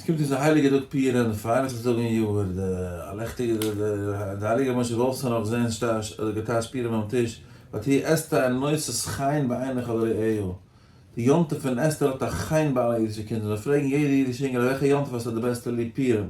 עס קומט אונז א הייליגע טאג פורים און די פרנסה טאג אין יאר, די א לעכטיגע די די הייליגע משה וואלף זאל נאך זען שטאש אדער געטאשט פורים ביים טיש, ואט היא אסתר נושאת חן בעיני כל רעהו, די יום טוב פון אסתר האט א חן ביי אלע אידישע קינדער, זיי פרעגן יעדע אידישע אינגעלע וועלכע יום טוב האסטו די בעסטע ליב פורים?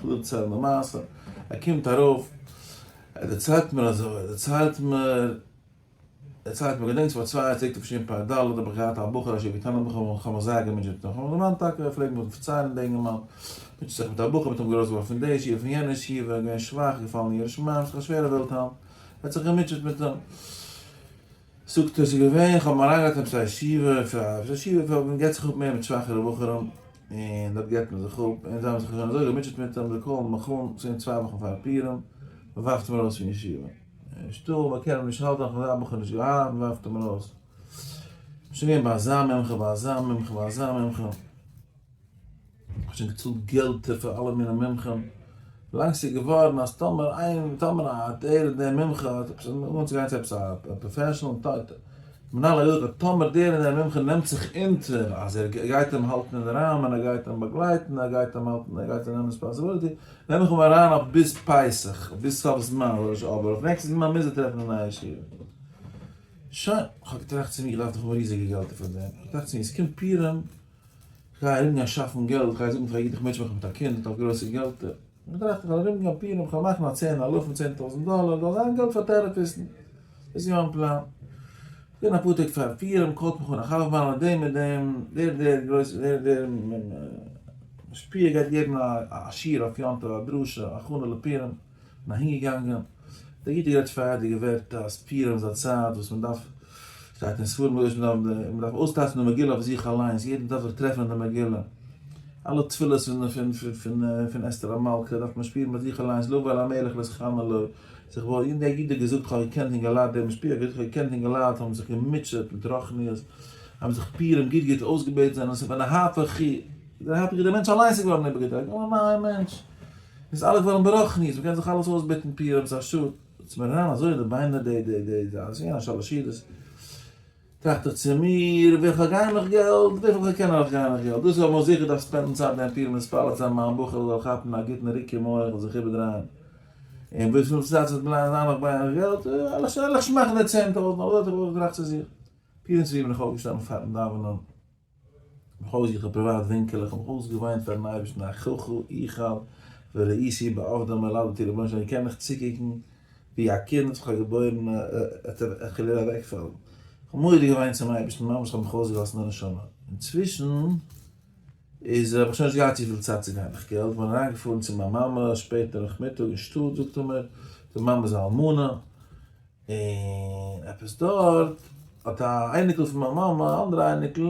כ'וויל דערציילן א מעשה. ער קומט ארויף, ער דערציילט מיר אזוי, ער דערציילט מיר, ער דערציילט מיר, געדענקסט פאר צוויי צו תשפ ד האב איך געהאט א בחור אשר קטן בך און כ'האב מיך זייער געמוטשעט און כ'האב מיך דערמאנט טאקע, ער פלעגט מיר פארציילן דער אינגערמאן מוטשעט זיך מיט א בחור, מ'האט אים געלאזט געווארן פון די ישיבה פון יענע ישיבה, געווען שוואך, געפאלן אין יראת שמים, זיך א שווערע וועלט היינט, ער האט זיך געמוטשעט מיט אים. זאגט ער, עס איז געווען, איך האב מיר אריינגעלייגט אין עפעס א ישיבה, עפעס א ישיבה וואו מען געט זיך אפ מער מיט שוואכערע בחורים, און דארט געט מען זיך אפ, און זיי האבן זיך שוין אזוי געמוטשעט מיט אים, זיי קאלן מיך אן צען צוויי וואכן פאר פורים, מען ווארפט אים ארויס פון ישיבה, נישטא, מען קען אים נישט האלטן, נאכדעם זיי בחור נישט געהאט, מען ווארפט אים ארויס, שוין געווען ביי אזא מומחה, ביי אזא מומחה, ביי אזא מומחה. כ'האב שוין געצאלט געלטער פאר אלע מיני מומחים, ווילאנג ס'איז געווארן אז טאמער איין, טאמער א דער דער מומחה האט עפעס אנצוגיין צו עפעס א פראפעשענעל טויט, מנהל האט געזאגט אז טאמער דער דער מומחה נעמט זיך אונטער אז ער גייט אים האלטן אין די ראמען, ער גייט אים באגלייטן, ער גייט אים האלטן, ער גייט אים נעמען ריספאנסיביליטי, נעם איך אים אריין אויף ביז פסח, ביז סוף זמן, אדער נישט אבער אויף נעקסטן זמן מוז ער טרעפן א נייע שיעור. שוין, כ'האב געטראכט צו מיר, כ'דארף דאך האבן ריזיגע געלטער פאר דעם, כ'האב געטראכט צו מיר, ס'קומט פורים, כ'גיי ארומגיין שאפן געלט, כ'גיי זאגן פאר א אידישע מענטש, מאך מיך מיט א קינד, כ'האב גרויסע געלטער. כ'טראכט, כ'וועל ארומגיין פירן, כ'וועל מאכן א צען אלפים, צען טויזנט דאלער, זאל זיין געלט פאר טערעפיסטן. דאס איז מיין פלאן. כ'בין אפאר טעג פארן פירעם, קאלט מיך אן א חבר מיינער, דעם און דעם, דער און דער גרויסער, דער און דער משפיע גייט געבן א שיעור אויף יום טוב, א דרשה, הכנה לפירם. און אהינגעגאנגען. דער איד האט גערעדט פארהייטיגע ווערטער אז פורים איז א צייט וואס מען דארף, שטייט אין ספרים קדושים, מען דארף אויסטייטשן די מגילה אויף זיך אליינס, יעדער דארף זיך טרעפן אין די מגילה, אלע תפילות פון אסתר המלכה דארף מען שפירן ביי זיך אליינס, לבוא אל המלך לשכן עליו, זיך וואויל, און דער איד האט געזאגט, איך האב געקענט און געליידט די משפחה, איך האב געזאגט, איך האב געקענט און געליידט, האבן זיך געמוטשעט מיט רוחניות, האבן זיך פורים גוט גוט אויסגעבעטן, זענען זיך פון די הפכי, דער הפכי, דער מענטש אליינס איז געווארן איבערגעדרייט, געווארן א נייער מענטש. איז אלעס געווארן ברחניות, מ'קען זיך אלעס אויסבעטן פירות השטאט, איז מיר אריין אזוי אין די ביינער די די די די אז יענע שלש ידות, טראכט איך צו מיר, וויפיל גיי נאך געלט, וויפיל כ'קען נאך גיי נאך געלט, דאס האב איך זיכער דארף ספענדן צייט גיין פירן מספר צו אז מיין בחור זאל כאפן א גוטן ריק אין מח און זיך איבערדרייען, און וויפיל צייט ס'וועט בלייבן זיין נאך ביי נאך געלט, עלעך שמאכן די צען טויזנט, אזוי האב איך געטראכט צו זיך, פירן צוויי בין איך אויפגעשטאנען פארן דאווענען. בכל זאת איך האב פריוואט ווינקל איך האב אויסגעוויינט פארן אייבערשטן אחיך איכאב וראיתי בעבדא מלדתי רבונו של עולם איך קען מיך צוקוקן ווי א קינד וואס איך האב געבוירן ער וויל אוועקפאלן איך האב מורא געוויינט צום אייבערשטן ממש איך האב מיך אויסגעלאזט אין די נשמה אינצווישן איז האב איך שוין נישט געהאט צופיל צייט צו גיין איך געלט בין אריינגעפארן צו מיין מאמע שפעט נאכמיטאג אין שטאט זאגט ער מיר די מאמע איז א אלמנה. און עפעס דארט האט א אייניקל פון מיין מאמע, א אנדערע אייניקל,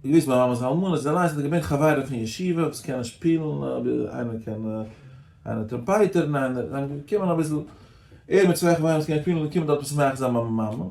געוויסט מיין מאמע'ס אלמנה, זיי אליינס זענען געווען חברים פון ישיבה וואס קענען שפילן, איינער קען, איינער טראמפייטער און איינער, זיי זענען געקומען אביסל, ער מיט צוויי חברים וואס קענען שפילן, זענען געקומען דארט משמח זיין מיין מאמע, און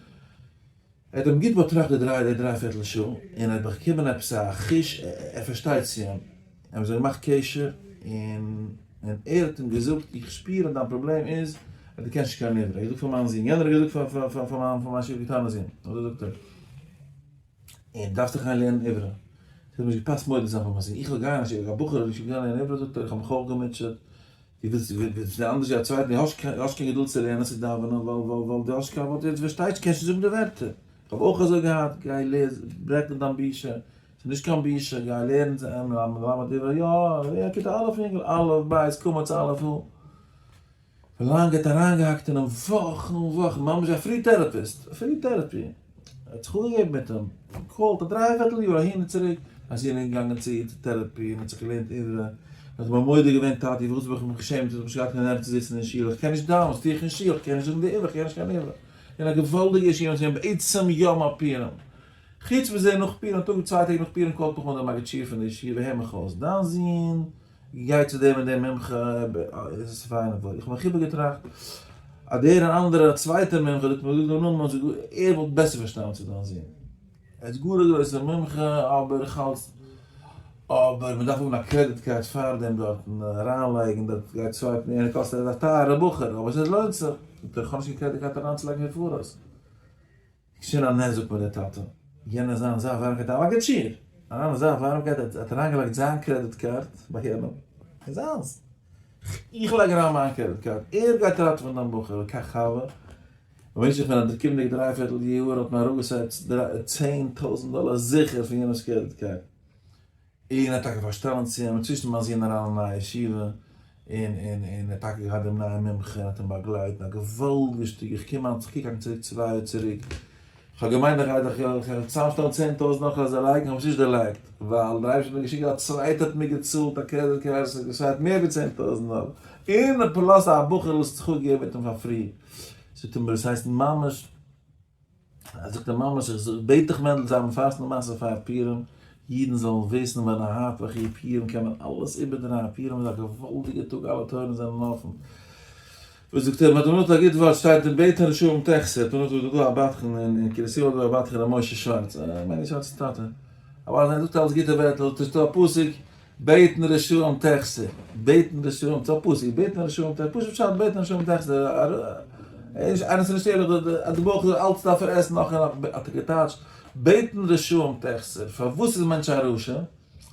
ער האט אים גוט באטראכט די דריי די דריי פערטל שעה, און ער האט באקומען עפעס א חוש ער פארשטייט צו אים, ער האט זיך געמאכט קשר, און און ער האט אים געזאגט, איך שפיר אז דיין פראבלעם איז אז דו קענסט נישט קיין עברית, ער האט געזאגט פאר מיין זון, יענער האט געזאגט פאר פאר פאר מיין פאר מיין שיף קטנ'ס זון, אזוי זאגט ער, און דו דארפסט דיך גיין לערנען עברית, ס'האט נישט געפאסט מודה זיין פאר מיין זון, איך זאל גיין א בחור זאל נישט קענען לערנען עברית, זאגט ער, איך האב מיך אויך געמוטשעט. די ווילסט די ווילסט די אנדערש ווי א צווייטער די האסט קיין די האסט קיין געדולד צו לערנען צו דאווענען ווייל ווייל ווייל די האסט קיין ווארט יעצט פארשטייסטו קענסט נישט זאגן די ווערטער איך האב אויך אזוי געהאט גיי לעז ברעך נישט דיין בושה ס'איז נישט קיין בושה גיי לערן צו עם למ מלמד עברי יא ווער א כיתה א' יונגעל א' ב' קמץ א' און פארלאנג האט אריינגעהאקט אינעם וואכן און וואכן ממש א פרי טערעפיסט פרי טערעפי. ער האט זיך אנגעגעבן מיט אים, געקאלט א דריי פערטל יאר אהין און צוריק, אז איר אינגל געגאנגען צו איר צו טערעפי און האט זיך געלערנט עברית, און האט אים בה מודה געווען, טאטי פארוואס האב איך מיך געשעמט, וואס האב איך נישט געהאט קיין נערוו צו זיצן אין שול, איך קען נישט דיין, וואס טו איך אין שול, איך קען נישט זאגן די עברית, איך קען נישט קיין עברית, און א געוואלדיגע אישי און זיי האבן בעצם יא מאפירן. חוץ מזה נאך פורים, א טאג צוויי טעג נאך פורים קאלט מיך אן דער מגיד שיעור פון די ישיבה, הער מיך אויס, דיין זון, גיי צו דעם און דעם מומחה, איז עס פיין און וואויל, איך האב מיך איבערגעטראכט אז דער און אנדערער א צווייטער מומחה, דו האסט מיר געזאגט דעם נאמען, אז ער וואלט בעסער פארשטאנען צו דיין זון, ער איז גאר א גרויסער מומחה, אבער איך האלט, אבער מען דארף האבן א קרעדיט קארד פאר דעם דארטן, אריינלייגן דארט, גיי סווייפן, יענער קאסט, ער איז א טייערער בחור, אבער עס לוינט זיך, איך האב נישט קיין קרעדיט קארד אריינצולייגן פון פאראויס. קשיר א נזק ביי די טאטע, יענער זיין זייט ווארעם גייט אריין א געטשיר אריין אין זייט ווארעם גייט האט אריין געלייגט זיין קרעדיט קארד ביי יענעם איז זיינס איך לייג אריין מיין קרעדיט קארד ער גייט ראטעווען דעם בחור קיין חבר במשך פון די קומענדיגע דריי פערטל יאהר האט מען אראפ געסעט צען טויזענט דאלער זיכער פון יענעמס קרעדיט קארד. און ער האט טאקע פארשטעלענט צו אים אינצווישן ביים זון אריין אין נייע ישיבה, און און און ער האט טאקע געהאט דעם נייעם מומחה און האט אים באגלייט און א געוואלדיגע שטודיע, איך קום היינט איך קוק היינט צוריק צוויי יאר צוריק, איך האב געמיינט איך גיי דאך צוזאמשטעלן צען טויזנט נאך אזא לייק, איך האב עס נישט דערלייגט, ווייל דער אייבערשטער האט מיר געשיקט אז א צווייטער האט מיר געצאלט א קרעדיט קארד וואס האט געשארט מער ווי צען טויזנט דאלער, און פלאס א בחור וואס האט זיך אפגעגעבן מיט אים פאר פרי, זאגט ער מיר דאס הייסט ממש. זאגט ער ממש איך זאג בעט דיך מענדל זיי האבן פארסט די מעשה פאר פירים אידן זאלן וויסן ווען א הארט וואך אי פירים קען מען אלעס איבערדרייען פירים איז א געוואלדיגע טאג אלע טויערן זענען אפן וואס זאגט ער מען האט דערנאך א גוט ווארט שטייט אין בית הנשארים תכסה האט דערנאך דא דא א בדחן אין קרית יואל דא א בדחן ר' משה שווארץ א מייני שווארץ טאטע אבער זיי זאגט אלעס גוטע ווערטל טוסטו א פסוק בעטן ר' שלום טעכסער, בעטן ר' שלום צו א פסק, בעטן ר' שלום טעכסער, פשוט פשט בעטן ר' שלום טעכסער, איינער ס'נישט ערליך דא אז די בויך זאל אלץ דארפן עסן נאך און נאך, האט ער געטייטשט, בעטן ר' שלום טעכסער, פארוואס איז מענטש א רשע?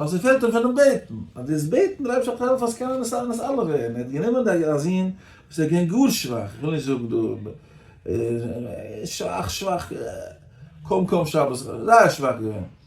ווייל ס'פעלט אים פונעם בעטן, אז דאס בעטן דער אייבערשטער האט געהאלפן אז ס'קען אונז אלע ווערן, ער האט גענומען די א זון וואס איז געווען גאר שוואך, איך וויל נישט זאגן דא, שוואך שוואך, קוים קוים שבת, זייער שוואך געווען.